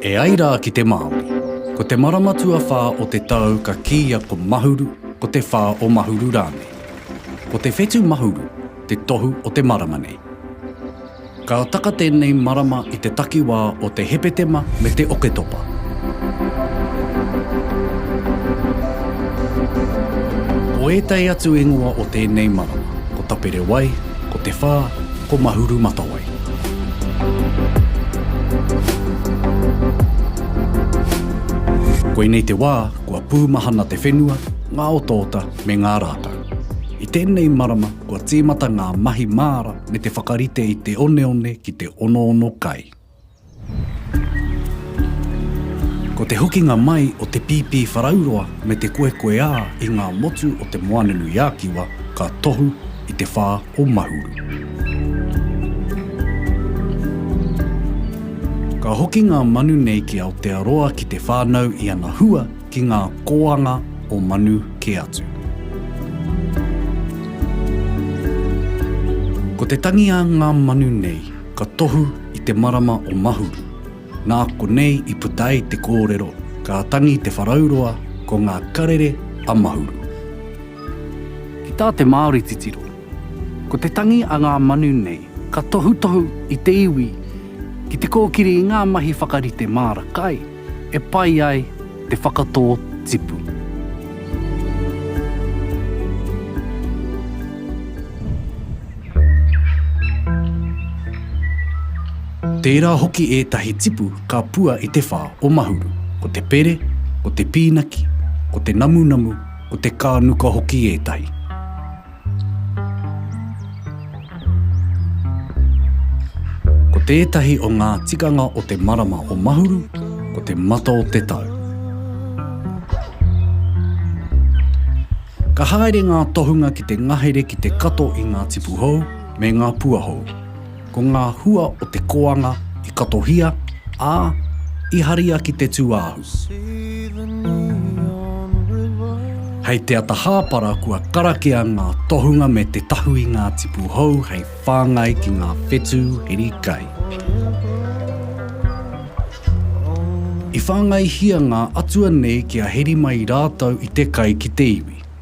E ai rā ki te Māori, ko te marama tuawhā o te tau ka kīia ko Mahuru, ko te whā o Mahuru rānei. Ko te whetu Mahuru te tohu o te marama nei. Ka taka tēnei marama i te takiwā o te Hepetema me te Oketopa. Ko ētahi atu ingoa o tēnei marama, ko Taperewai, ko Te Whā, ko Mahurumatawai. Koinei te wā kua pūmahana te whenua, ngā otaota me ngā rākau. I tēnei marama kua tīmata ngā mahi māra me te whakarite i te oneone ki te onoono kai. Ko te hokinga mai o te pīpī wharauroa me te koekoeā i ngā motu o Te Moananui-a-Kiwa ka tohu i te whā o Mahuru. Ka hoki ngā manu nei ki Aotearoa ki te whānau i ana hua, ki ngā kōanga o manu kē atu. Ko te tangi a ngā manu nei ka tohu i te marama o Mahuru, nā konei i puta ai te kōrero ka tangi te wharauroa ko ngā karere a Mahuru. Ki tā te Māori titiro, ko te tangi a ngā manu nei ka tohutohu i te iwi ki te kōkiri i ngā mahi whakarite māra kai, E pai ai te whakatō tipu. Tērā hoki ētahi tipu ka pua i te whā o Mahuru, ko te pere, ko te pīnaki, ko te namunamu, ko te kānuka hoki ētahi. Ko tētahi o ngā tikanga o te marama o Mahuru, ko te mata o te tau. Ka haere ngā tohunga ki te ngahere ki te kato i ngā tipu hou me ngā pua hou. Ko ngā hua o te koanga i katohia, ā, i haria ki te tūāhu. Hei te ata hāpara kua karakia ngā tohunga me te tahu i ngā tipu hou hei whāngai ki ngā whetū hiri kai. I whāngaihia ngā atua nei kia heri mai rātou i te kai ki te iwi.